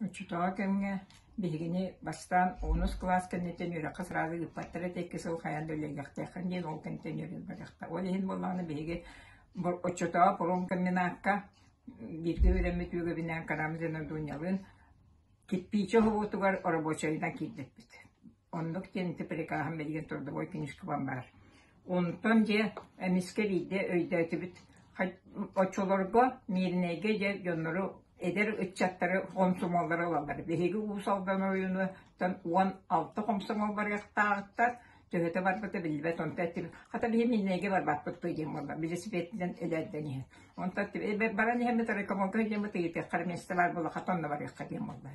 Оччотооҕу кэмҥэ биһигини, бастаан онус кылаас кэнниттэн үөрэххэ сразу ыыппаттар этэ, икки сыл хайаан да үлэлиэхтээххин диэн ол кэнниттэн үөрэммэтэхтэр. Ол иһин буоллаҕына биһиги оччотооҕу промкомбинакка бииргэ үөрэммит үөгэбинээн Карамзин Одуньялыын кирпиичэ уһугутугар оробуочайынан киирбиппит Оннук диэн ити прикааһым билигин трудовой книжкабан баар. Онтон дьэ эмискэ биирдэ өйдөөтүбүт оччолорго Мииринэйгэ дьэ дьоннору эдэр ыччаттары хомсомоллары ылаллар. Биһиги Уус Алдан оройунуттан уон алта хомсомол барыахтаахтар. Төһөтө барбыта биллибэт онто эттим. Хата биһи Мииринэйгэ барбаппыт диэн буолла. Велосипединэн элэрдэн иһин. Онто баран иһэммит рекомолга диэммит ыйытыаххар месте бар булла хатан да барыахха диэн буолла.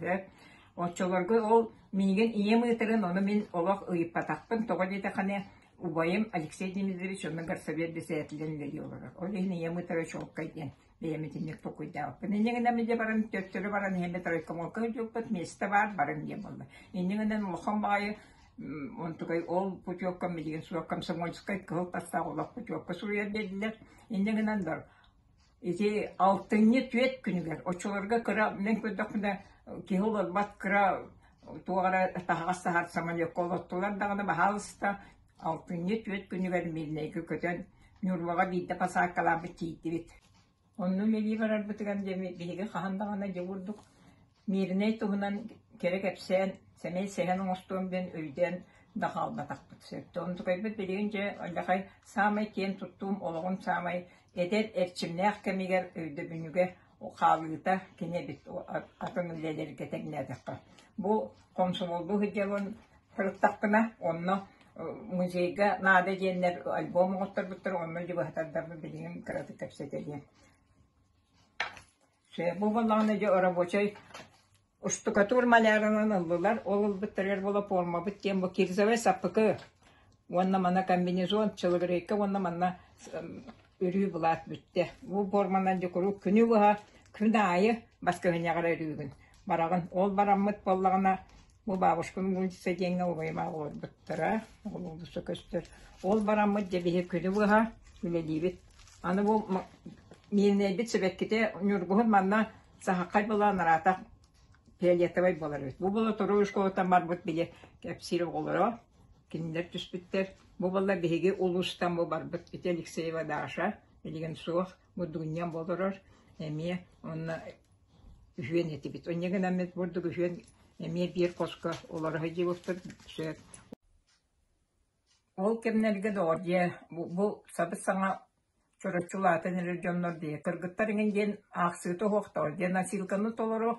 Оччолорго ол минигэн ийэм ыытарын, ону мин олох ыйыппатахпын, тоҕо диэтэххинэ, убайым Алексей Дмитриевич уонна горсовет бэссэдээтэлинэн үлэлии олорор. Ол иһин ийэм ыытара чуолкай диэн бэйэм итинник токуйдаабыппын. Инньэ гынан дьэ баран төттөрү баран иһэммэ тройкомолко ыдьыппыт, место баар, барын диэн буолла. Инньэ гынан улахан баҕайы онтукай ол путевкам билигин суох комсомольскай кыһыл тастаах олох путевка суруйар бэрдилэр. Инньэ гынан бар Ити алтынньы түөрт күнүгэр оччолорго кыра мин көрдөхпүнэ киһи олорбот кыра туох эрэ таһаҕас таһар самолекка олоттулар даҕаны баһаалыста алтынньы түөрт күнүгэр Миирнэйгэ көтөн Ньурбаҕа биирдэ посадкалаабыт тиийдибит. Онно мэлии барарбытыгар диэми биһиги хаһан даҕаны дьэ курдук Мииринэй туһунан кэрэ кэпсээн, сэмэй сэһэн оҥостуом диэн өйдөөн да хаалбатахпыт. Сөптөөх онтукайбыт билигин дьэ Өллөкөй саамай киэн туттуум олоҕун саамай эдэр эрчимнээх кэмигэр өйдөбүнньүгэ хаалыыта кини эбит атын үлэлэргэ тэҥнээтэххэ. Бу хомсомоллуу сылдьар уон сырыттахпына онно музейга наада диэннэр альбом оҥотторбуттар онно дьыбыһатардарбын билигин кыратык кэпсэтэлиэм. Сөп буоллаҕына дьэ оробочай устукатуур малярынан ыллылар, ол ылбыттарыгар волополмабыт диэн бу кирзовой саппыкы уонна мана комбинезон, человека уонна манна өрүү былаат бүттэ. Бу форманан дьэ куруук күнү быһа күн аайы бас көһүнньэҕэр өрүүгүн. Бараҕын ол бараммыт буоллаҕына Бу бабушкам Гунчица диэҥҥэ убайым олорбуттара, ол уулусса көстөр. Ол бараммыт дьэбиһи күлү быһа үлэлиибит. Аны бу Миирнэйбит сибэккитэ Ньургуһун манна саһаххай былаан араатах фиолетовай буолар эбит. Бу була торуу школаттан барбыт били кэпсиир оҕолоро. Кинилэр түспүттэр. Бу була биһиги улуустан бу барбыт ити Алексеева Даша, илигэн суох, бу Дунян болорор, эмиэ онно үһүөн этибит Инньэ гынан эмит бурдук үһүөн эмиэ биир хоско олоро сылдьыбыппыт сөп ол кэмнэргэ доҕордье бу бу сабыс-саҥа чороччу улаатан эрэр дьоннор дии кыргыттар иҥин диэн аахсыыта суохтаҕа диэн насилканы толору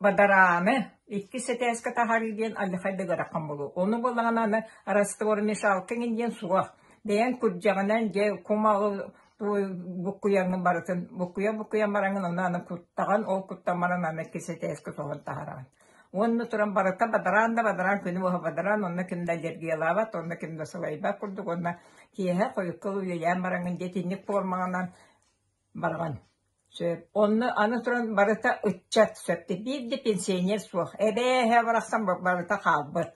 Бадарааны иккис этээскэ таһаарыы диэн алдьархай да ыараххан буолуо, ону буоллаҕына аны раствормешалка эҥин диэн суох, бэйэҥ күрдьэҕинэн дьэ кумаҕы буккуйаҥҥын барытын буккуйан-буккуйан бараҥҥын ону аны куттаҕын, ол куттан баран аны иккис этээскэ соһон таһаараҕын. Уонна туран барыта бадараан да бадараан күнү быһа бадараан онно ким да аллергиялаабат, онно ким да сылайбат курдук, уонна киэһэ хойукка уйайаан бараҥҥын дьэ итинник формаҕынан Барҕан, сөп, онно аны туран барыта ыччат, сөпкө биир да пенсионер суох, эбээһэ барахсан барыта хаалбыт.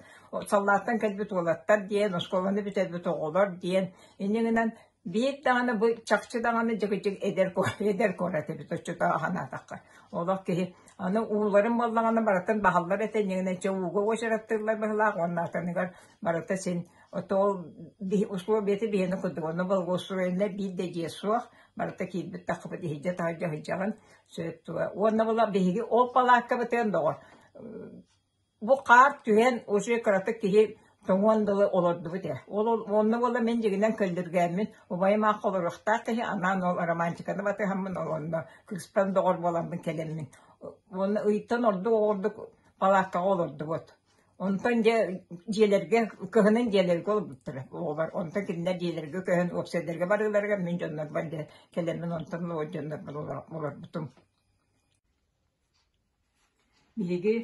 Саллааттан кэлбит уолаттар диэн, оскуоланы бүтэрбит оҕолор диэн, инньэ гынан биир даҕаны бу чахчы даҕаны дьигичик эдэр эдэр куорат эбит оччотооҕу санаатахха. Олох киһи аны ууларын буоллаҕына барытын баһаллар этэ инньэ гынан чэ ууга уочараттыыллар быһылаах уоннаатаныгар барыта син Отоол условиеты биһиэнэ курдук онно болгуоссуруйанна биир да дьиэ суох барыта киирбит таххыбыт иһирдьэ таһырдьа сылдьаҕын сөп тула уонна була биһиги ол палааккабытыан доҕор бу хаар түһэн уже кыратык киһи тоҥуон дылы олордубут ээ ол онно була мин дьигинэн көллүргээммин убайым аахха олоруохтаах киһи анаан ол романтиканы батыһаммын олонно кыспан доҕор буоламмын кэлэммин уонна ыйтан ордук оҕордук палааккаҕа олордубут Онтон дьэ дьиэлэргэ кыһынын дьиэлэргэ олорбуттара оҕолор. Онтон кинилэр дьиэлэргэ көһөн уопсайдарга барыыларыгар мин дьоннорбор дьэ кэлэммин онтон олор дьоннорбор олорбутум. Биһиги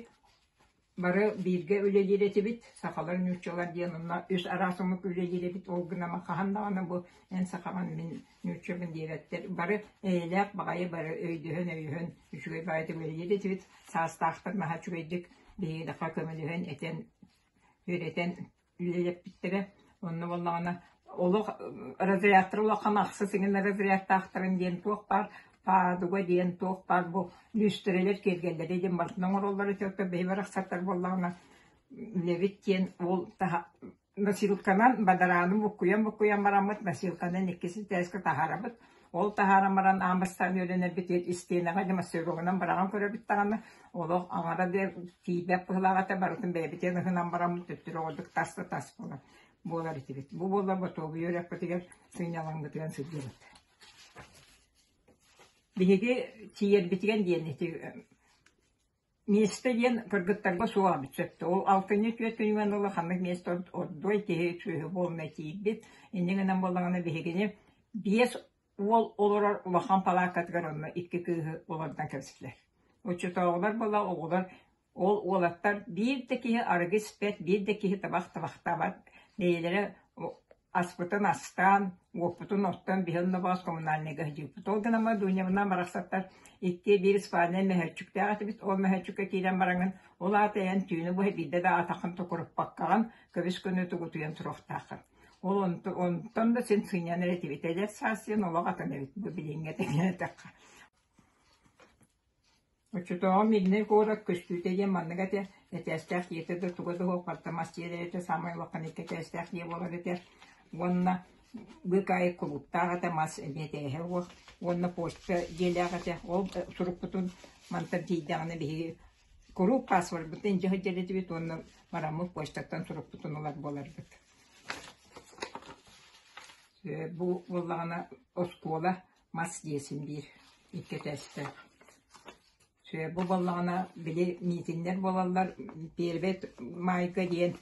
бары бииргэ үлэлиир этибит. Сахалар нууччалар диэн онно үс араас омук үлэлиир эбит. Ол гынан хаһан даҕаны бу эн сахаҕын мин нуучча бэндиэрэттэр бары эйэлээх баҕайы бары өйдөһөн-өйөһөн үчүгэй баайы түбэһиниир этибит саастаахтар маһа үчүгэйдик биһиги даха көмөлөһөн этэн үөрэтэн үлэлэппиттэрэ онно буоллаҕына олох разрядтар улахан ахса сыгына разрядтаахтарын диэн туох баар паадуга диэн туох баар бу люстерелер киэргэллэри диэн барытын оҥороллор этэ биһи барахсаттар буоллаҕына үлэбит диэн ол таһа Носилканан бадарааны буккуйан-буккуйан бараммыт, носилканан иккис итээскэ таһаарабыт. Ол таһааран баран аан бастаан үөрэнэрбит истиэнэҕэ или массыыналанан быраҕан көрөбүт даҕаны, олох аҥара да тиийбэт быһылаах этэ, барытын бэйэбитин ыһынан бараммыт төттөрү оҕордук тас да тас буолар буолар этибит. Бу буолла ботуобуйа үрэхпитигэр сынньалаҥбытыгар сылдьабыт. Биһиги тиийэрбитигэр диэн ити Миэстэ диэн кыргыттарга суох сөпкө. Ол алтынньы түөртүнэн ыла ханнык миэстэ ордуой киһи сүөһү буолуна тиийбит. Инньэ гынан буоллаҕына биһигини биэс уол олорор улахан палаакатыгар онно икки кыыһы олордон кэбистилэр. Оччотооҕулар буола оҕолор ол уолаттар биир да киһи арыгы испэт, биир да киһи табах табахтаабат, бэйэлэрэ Аспытын астаан, уоппутун оттон, биһи онно боос коммунальнайга сдьыыппыт. Ол гынан баран Дуньабынан барахсаттар икки биир спальнай мөһөөччүктээх этибит. Ол мөһөөччүккэ киирэн бараҥын, ол аата эйэн түүнү быһа биирдэ да атаххын токуруппаккаҕын, көбүс көнү тугутуйан туруохтааххын. Ол онтон, онтон да син сынньанар этибит. Эдэр саас диэн олох атын эбит. Бу билиҥҥэ тэҥнэтэххэ. Оччотооҕу Мирнэй куорат көстүүтэ диэн маннык этэ: этээстээх ийэтэ да туга да уһулҕатта мас тиэрэ этэ, саамай улахан икки этээстээх ийэ буолар этэ уонна быык аайы кулууптаах этэ мас эмиэ этээһэ уол уонна почта дьиэлээх этэ. Ол сурукпутун мантан тиийдэҕинэ биһиги куруук паспорбутун илдьэ сылдьар этибит уонна бараммыт почтаттан сурукпутун ылар буоларбыт. Бу буоллаҕына оскуола мас диэсим биир икки өтөстөөх. Сүө бу буоллаҕына били миитиннэр буолаллар первый майга диэн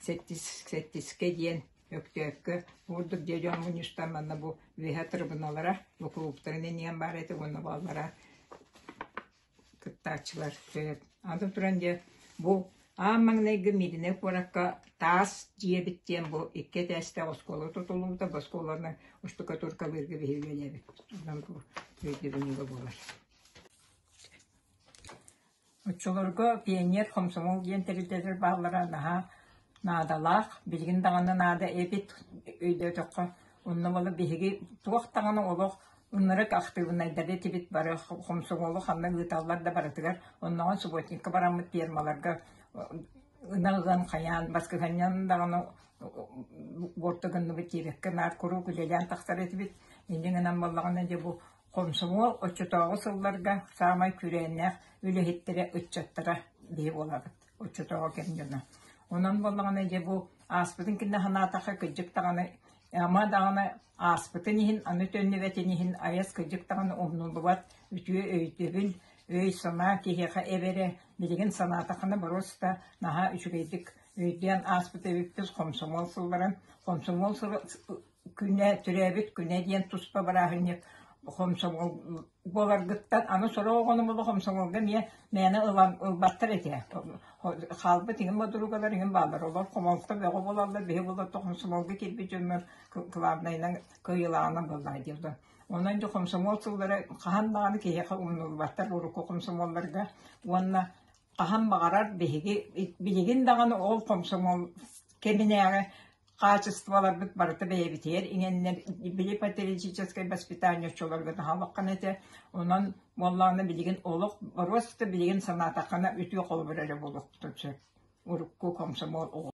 сэттис сэттискэ диэн Өктөөккө уурдук дьэ дьон муньыштан манна бу үөһэ трибуналара бу кулууптарын эниэн баар этэ уонна буоллара кыттааччылар сөп. Аны туран дьэ, бу аан маҥнайгы Мииринэй куоракка таас дьиэбит диэн бу икки этээстээх оскуола тутуллубута. Бу оскуоланы штукатуркалыырга биһиргэ эбэбит. Онон бу өйдөбүн ыла буолар. Оччолорго пионер хомсомол диэн тэрилтэлэр бааллара наһаа наадалаах. Билигин даҕаны наада эбит өйдөөтөххө. Онно бала биһиги туох даҕаны олох Ынырык актыыбынайдары этибит бары хомсоҥуолу ханна ыыталлар да барытыгар оннооҕун субботникка бараммыт пиэрмаларга ынах ыан хайаан баскыһанньан даҕаны буорта гынныбыт тиирэккэ наар куруук үлэлээн тахсар этибит инньэ гынан буоллаҕына дьэ бу хомсомуол оччотооҕу сылларга саамай күрээннээх үлэһиттэрэ ыччаттара биһи буолабыт оччотооҕу кэм дьоно. Онон буоллаҕына дьэ бу ааспытын кэннэ санаатахха кырдьык даҕаны ама даҕаны ааспытын иһин аны төннүбэтин иһин айас кырдьык даҕаны умнуллубат үтүө өйдөбүл өй-санаа киһиэхэ эбэрэ билигин санаатаххына боруоста наһаа үчүгэйдик өйдөөн ааспыт эбиппит хомсомуол сылларын хомсомуол сыла күнэ, төрөөбүт күнэ диэн туспа бырааһынньык хомсомол буоларгыттан аны сорох оҕону була хомсомолго эмиэ мээнэ ылан ылбаттар этэ. Хаалбыт иһин модуругалар иһин бааллар. Олор хомолто бөҕө булаллар, биһи булатта хомсомолго киирбит дьоммор кылаабынайынан кыйылаанан буоллаҕа диэбитэ. Онон дьэ хомсомол сыллара хаһан даҕаны киһиэхэ умнуллубаттар урукку хомсомолларга уонна хаһан баҕарар биһиги билигин даҕаны ол хомсомол кэминээҕи хаачыстыбаларбыт барыта бэйэбитигэр иҥэннэр били патриотическай воспитание оччолорго наһаа улаххан этэ онон буоллаҕына билигин олох боруоста билигин санаатаххына үтүө холобур эрэ буолуохтун сөп урукку комсомол оҕо